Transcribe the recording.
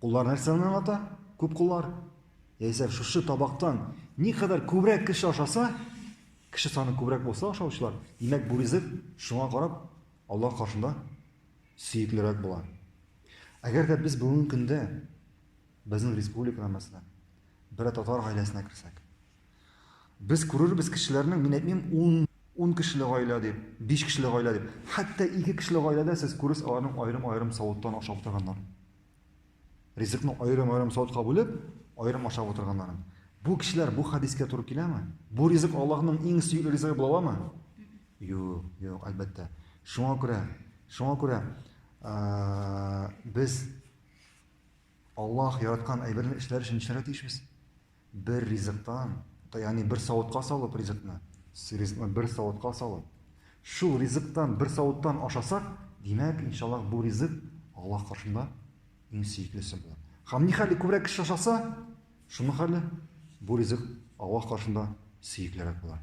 Куллар нәрсәне аңлата? Күп куллар. Яисә шушы табактан никадәр күбрәк кеше ашаса, кеше саны күбрәк булса ашаучылар, димәк бу ризык шуңа карап Аллаһ каршында сөеклерәк була. Әгәр дә без бүгенге көндә безнең республикада мәсәлән бер татар гаиләсенә керсәк, без күрербез кешеләрнең, мин әйтмим, 10 10 кешеле гаилә дип, 5 кешеле гаилә дип, хәтта 2 кешеле гаиләдә сез күрерсез аларның аерым-аерым савыттан ашап утырганнар. Ризыкны аерым-аерым савытка бүлеп, аерым ашап утырганнарын. Бу кешеләр бу хадискә туры киләме? Бу ризык Аллаһның иң сөекле ризыгы була аламы? Юк, юк, әлбәттә. Шуңа күрә, шуңа күрә без Аллаһ яраткан әйберне эшләр өчен эшләргә тиешбез. Бер ризыктан, ягъни бер савытка салып ризыкны, ризыкны бер савытка салып, шул ризыктан бер савыттан ашасак, димәк, иншаллах, бу ризык Аллаһ каршында иң сөеклесе була. Һәм ни хәле күбрәк кеше ашаса, шуның хәле бу ризык Аллаһ каршында сөеклерәк була.